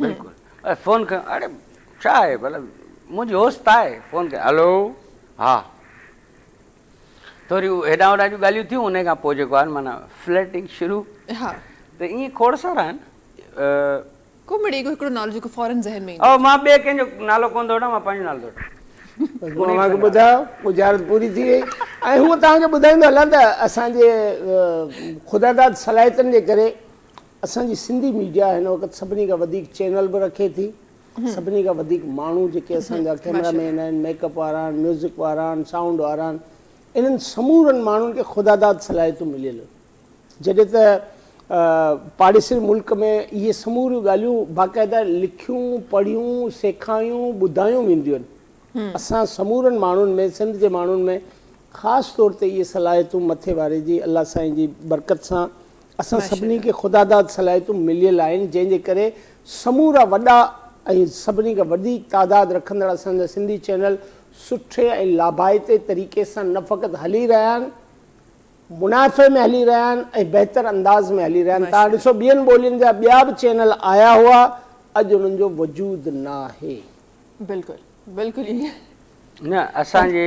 بلڪل اڙي فون کنيو اڙي ڇا آهي ڀلا منهنجي هوس ته آهي فون کي هلو ها ٿوري هيڏان هوڏان جون ڳالهيون ٿيون ان کان پوء جيڪو آهي معنيٰ فلرٽنگ شروع ها ته ائين کوڙ سارا آهن ڪو مڙي اهو هڪڙو نالو جيڪو فورن ذهن ۾ ايندو او مان ٻئي ڪنهن جو نالو ڪونه ٿو وٺان مان پنهنجو نالو ٿو وٺان بس مون اوهان کي ٻڌايو ڳجهارت پوري ٿي وئي ۽ هونء توهان کي ٻڌائيندو هلان ته اسان جي خداداد صلاحيتن جي ڪري اسان جي سنڌي ميڊيا هن وقت سڀني کان وڌيڪ چينل به رکي ٿي سڀني کان وڌيڪ ماڻهو جيڪي اسان جا ڪيمرا مين آهن ميڪ اپ وارا آهن ميوزڪ وارا آهن سائونڊ وارا آهن انهن سمورن ماڻهن کي خداداد صلاحيتون مليل آهن جڏهن ته پاڙيسري ملڪ ۾ اهي سموريون ڳالهيون باقاعده لکيون پڙهيون سيکايون ٻڌايون وينديون آهن اسان سمورن ماڻهن ۾ سنڌ جي ماڻهن ۾ خاص طور تي اهي صلاحيتون مٿي واري جي الله سائين جي برڪت سان اسان سڀني کي خداداد صلاحيتون مليل آهن، جنهن جي ڪري سمورا وڏا ۽ سڀني کان وڌيڪ تعداد رکندڙ اسان جا سنڌي چينل سٺي ۽ لاڀائتي طريقي سان نه فقط هلي رهيا آهن، منافعي ۾ هلي رهيا آهن ۽ بهتر انداز ۾ هلي رهيا آهن. توهان ڏسو ٻين ٻولين جا ٻيا به چينل آيا هئا، اڄ انهن جو وجود ناهي. بلڪل بلڪل ائين. نه اسان جي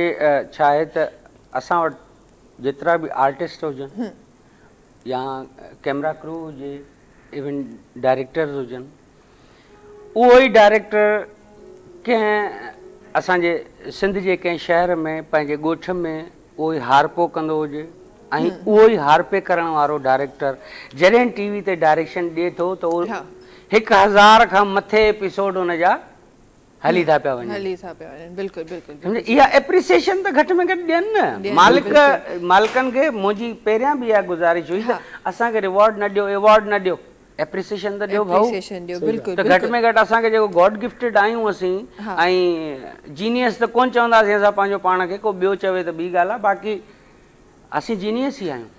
ڇا آهي ته اسان وٽ جيترا به آرٽسٽ هجن. يا ڪيمرا ڪرو هجي ايون ڊائريڪٽرز هجن اهو ئي ڊائريڪٽر ڪنهن اسان جي سنڌ جي ڪنهن شهر ۾ پنهنجي ڳوٺ ۾ اهو ئي هارپو ڪندو هجي ۽ اهو ئي هارپي ڪرڻ وارو ڊائريڪٽر جڏهن ٽي وي تي ڊائريڪشن ڏئي ٿو ته هڪ هزار کان مٿي ايپيسوڊ ان جا هلي ٿا پيا وڃن هلي ٿا پيا وڃن بلڪل بلڪل اها اپريسيشن ته گهٽ ۾ گهٽ ڏين نه مالڪ مالڪن کي منهنجي پهريان به اها گذارش هئي ته اسان کي ريوارڊ نه ڏيو ايوارڊ نه ڏيو اپريسيشن ته ڏيو ڀائو ته گهٽ ۾ گهٽ اسان کي جيڪو گاڊ گفٽيڊ آهيون اسين ۽ جينيس ته ڪونه چونداسين اسان پنهنجو پاڻ کي ڪو ٻيو چوي ته ٻي ڳالهه آهي باقي اسين جينيس ئي آهيون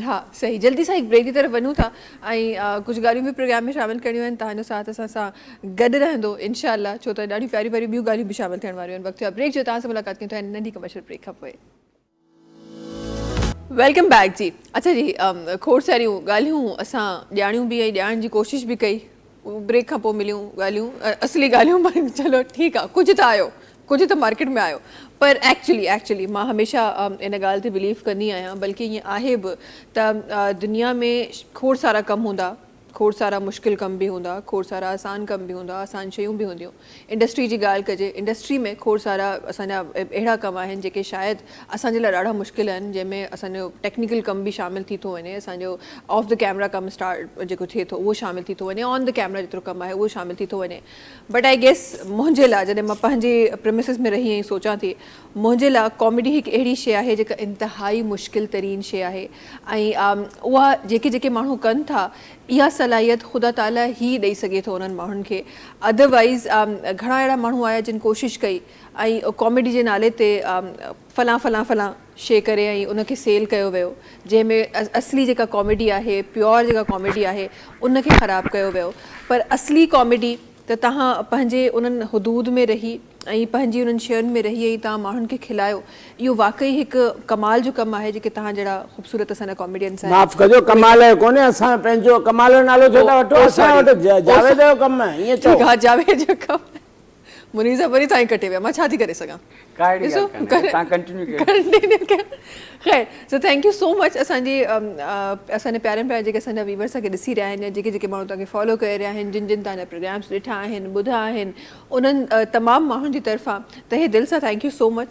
ها صحيح جلدي سان هڪ بريڪ جي طرف وڃون ٿا ۽ ڪجهه ڳالهيون به پروگرام ۾ شامل ڪرڻيون آهن تهانجو ساٿ اسان سان گڏ رهندو انشاء الله ڇو ته ڏاڍيون پياريون پياريون ٻيون ڳالهيون به شامل ٿيڻ واريون آهن وقت ٿيو آهي بريڪ جو تهان سان ملاقات ڪيون ٿا هن ننڍي ڪمرشل بريڪ کان پوء ويلڪم بيڪ جي اچا جي کوڙ ساريون ڳالهيون اسان ڄاڻيون به ۽ ڄاڻڻ جي ڪوشش به ڪئي بريڪ کان پوء مليون ڳالهيون اصلي ڳالهيون پر چلو ٺيڪ آ ڪجهه ته آيو ڪجهه ته مارڪيٽ ۾ آيو پر ايڪچلي ايڪچلي مان هميشه ان ڳالهه تي بليف ڪندي آهيان بلڪه ائين آهي به ته دنيا ۾ کوڙ سارا ڪم هوندا کوڙ سارا مشڪل ڪم به هوندا کوڙ سارا آسان ڪم به هوندا آسان شيون به هونديون انڊسٽري جي ڳالهه ڪجي، انڊسٽري ۾ کوڙ سارا اسان جا اهڙا ڪم آهن جيڪي شايد اسان جي لاء ڏاڍا مشڪل آهن جنهن ۾ اسان جو ٽيڪنيڪل ڪم به شامل ٿي ٿو وڃي، اسان جو آف دي ڪيمرا ڪم اسٽارٽ جيڪو ٿئي ٿو اهو شامل ٿي ٿو وڃي، آن دي ڪيمرا جيترو ڪم آهي اهو شامل ٿي ٿو وڃي بٽ آء گيس منهنجي لاء جڏهن مان پنهنجي پريمسز ۾ رهي ائين سوچان ٿي منهنجي لاء ڪاميڊي هڪ اهڙي شي آهي جيڪا انتهائي مشڪل ترين شي آهي ۽ آء اها جيڪي جيڪي ماڻهو ڪن ٿا اها صلاحيت خدا تعاليٰ ئي ڏئي سگهي ٿو انهن ماڻهن کي اڌر وائيز گهڻا اهڙا ماڻهو آيا جن ڪوشش ڪئي ۽ ڪاميڊي جي نالي تي فلان فلان فلان شي ڪري ۽ ان کي سيل ڪيو ويو جنهن ۾ اصلي جيڪا ڪاميڊي آهي پيور جيڪا ڪاميڊي آهي ان کي خراب ڪيو ويو پر اصلي ڪاميڊي ته توهان پنهنجي انهن حدود ۾ رهي ائين پنهنجي انهن شين ۾ رهي ۽ توهان ماڻهن کي کلايو اهو واقعي هڪ ڪمال جو ڪم آهي جيڪي توهان جهڙا خوبصورت اسان جا ڪاميڊينس آهن معاف ڪجو ڪمال جو ڪونهي اسان جو پنهنجو ڪمال جو نالو ڇو ٿا وٺو اسان وٽ جاويد جو ڪم آهي ائين چئو ٺيڪ آهي جاويد جو ڪم آهي منير صاحب وري توهان ئي ڪٽي ويا مان ڇا ٿي ڪري سگهان ڪا اهڙي ڳالهه ڪانهي تان ڪنٽينيو ڪيو ڪنٽينيو ڪيو خير so thank you so much اسان جي اسان جي پيارن پيارن جيڪي اسان جا ويورس اسان کي ڏسي رهيا آهن يا جيڪي جيڪي ماڻهو توهان کي فالو ڪري رهيا آهن جن جن توهان جا پروگرامس ڏٺا آهن ٻڌا آهن انهن تمام ماڻهن جي طرفان تهه دل سان ٿينڪ يو سو مچ.